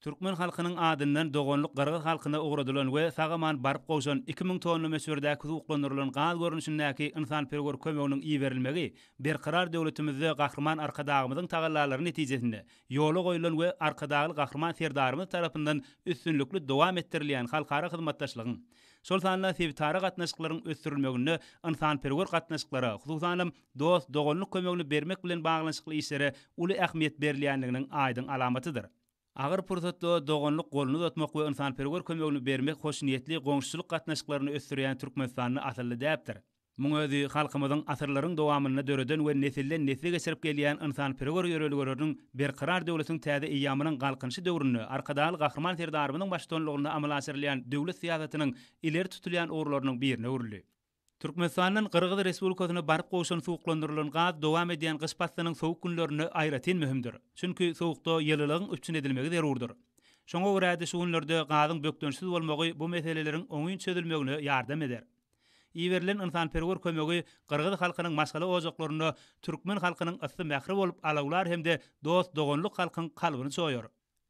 Türkmen halkynyň adyndan doganlyk gyrgyz halkyna ugradylan we sag-aman baryp gowşan iki müň tonna möçberdäki suwuklandyrylan gaz görnüşindäki ynsanperwer kömeginiň iberilmegi Berkarar döwletimizde Gahryman Arkadagymyzyň tagallalary netijesinde ýola goýlan we Arkadagly Gahryman Serdarymyz tarapyndan üstünlikli dowam etdirilýän halkara hyzmatdaşlygyň, şol sanda sebitara gatnaşyklaryň ösdürilmeginde ynsanperwer gatnaşyklara, hususanam, dost-doganlyk kömegini bermek bilen baglanyşykly işlere uly ähmiýet berilýändiginiň aýdyň alamatydyr. Agyr pursatda doganlyk goluny uzatmak we ynsanperwer kömegini bermek hoşniýetli goňşuçylyk gatnaşyklaryny ösdürýän Türkmenistanda asylly däpdir. Muň özi halkymyzyň asyrlaryň dowamynda döreden we nesilden-nesle geçirip gelýän ynsanperwer ýörelgeleriniň Berkarar döwletiň täze eýýamynyň Galkynyşy döwründe Arkadagly Gahryman Serdarymyzyň baştutanlygynda amala aşyrylýan döwlet syýasatynyň ileri tutulýan ugurlarynyň birine öwrüldi. Türkmenistandan Gyrgyz Respublikasyna baryp gowşan suwuklandyrylan gaz dowam edýän gyş paslynyň sowuk günlerinde aýratyn möhümdir. Çünki sowukda ýylylygyň üpjün edilmegi zerurdyr. Şoňa görä-de şu günlerde gazyň bökdençsiz bolmagy bu meseleleriň oňyn çözülmegine ýardam eder. Iberilen ynsanperwer kömegi gyrgyz halkynyň maşgala ojaklarynda türkmen halkynyň ysy mähri bolup alawlar hem-de dost-doganlyk halkyň kalbyny çoýar.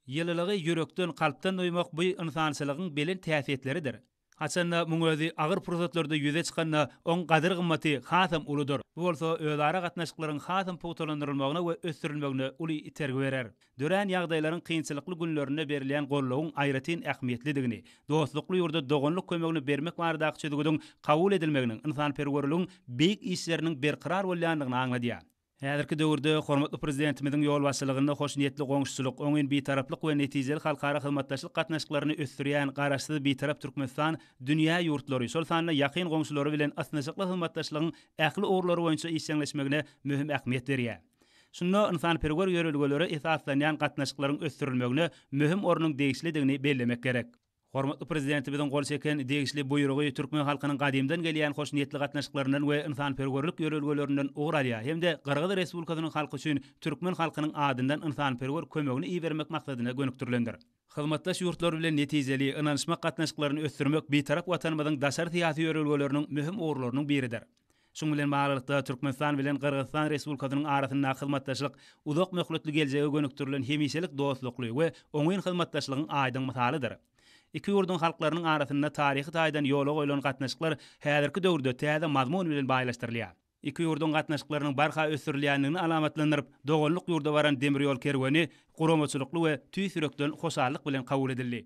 Ýylylygy ýürekden, kalpdan duýmak bu ynsançylygyň belent häsiýetleridir. Haçanda muň özi agyr pursatlarda ýüze çykanda, oň gadyr-gymmaty hasam uludyr. Bu bolsa özara gatnaşyklaryň hasam pugtalandyrylmagyna we ösdürilmegine uly itergi berer. Dörän ýagdaýlaryň kynçylykly günlerinde berilýän goldawyň aýratyn ähmiýetlidigini, dostlukly ýurda doganlyk kömegini bermek baradaky çözgüdiň kabul edilmeginiň ynsanperwerligiň beýik işleriniň berkarar bolýandygyny aňladýar. Häzirki döwürde hormatly Prezidentimiziň ýolbaşçylygynda hoşniýetli goňşuçylyk, oňyn bitaraplyk we netijeli halkara hyzmatdaşlyk gatnaşyklaryny ösdürýän Garaşsyz, Bitarap Türkmenistan dünýä ýurtlary, şol sanda ýakyn goňşulary bilen ysnyşykly hyzmatdaşlygyň ähli ugurlary boýunça işjeňleşmegine möhüm ähmiýet berýär. Şunda ynsanperwer ýörelgelere esaslanýan gatnaşyklaryň ösdürilmegine möhüm ornuň degişlidigini bellemek gerek. Hormatly Prezidentimiziň gol çeken degişli Buýrugy türkmen halkynyň gadymdan gelýän hoşniýetli gatnaşyklaryndan we ynsanperwerlik ýörelgelerinden ugur alýar hem-de Gyrgyz Respublikasynyň halky üçin türkmen halkynyň adyndan ynsanperwer kömegini ibermek maksadyna gönükdirilendir. Hyzmatdaş ýurtlar bilen netijeli, ynanyşmak gatnaşyklaryny ösdürmek Bitarap Watanymyzyň daşary syýasy ýörelgeleriniň möhüm ugurlarynyň biridir. Şunuň bilen baglylykda, Türkmenistan bilen Gyrgyzystan Respublikasynyň arasyndaky hyzmatdaşlyk uzak möhletli geljege gönükdirilen hemişelik dostlukly we oňyn hyzmatdaşlygyň aýdyň mysalydyr. Iki ýurduň halklarynyň arasynda taryhy taýdan ýola goýlan gatnaşyklar häzirki döwürde täze mazmun bilen baýlaşdyrylýar. Iki ýurduň gatnaşyklarynyň barha ösdürilýändigini alamatlandyryp, doganlyk ýurda baran demir ýol kerweni guramaçylykly we tüýs ýürekden hoşallyk bilen kabul edildi.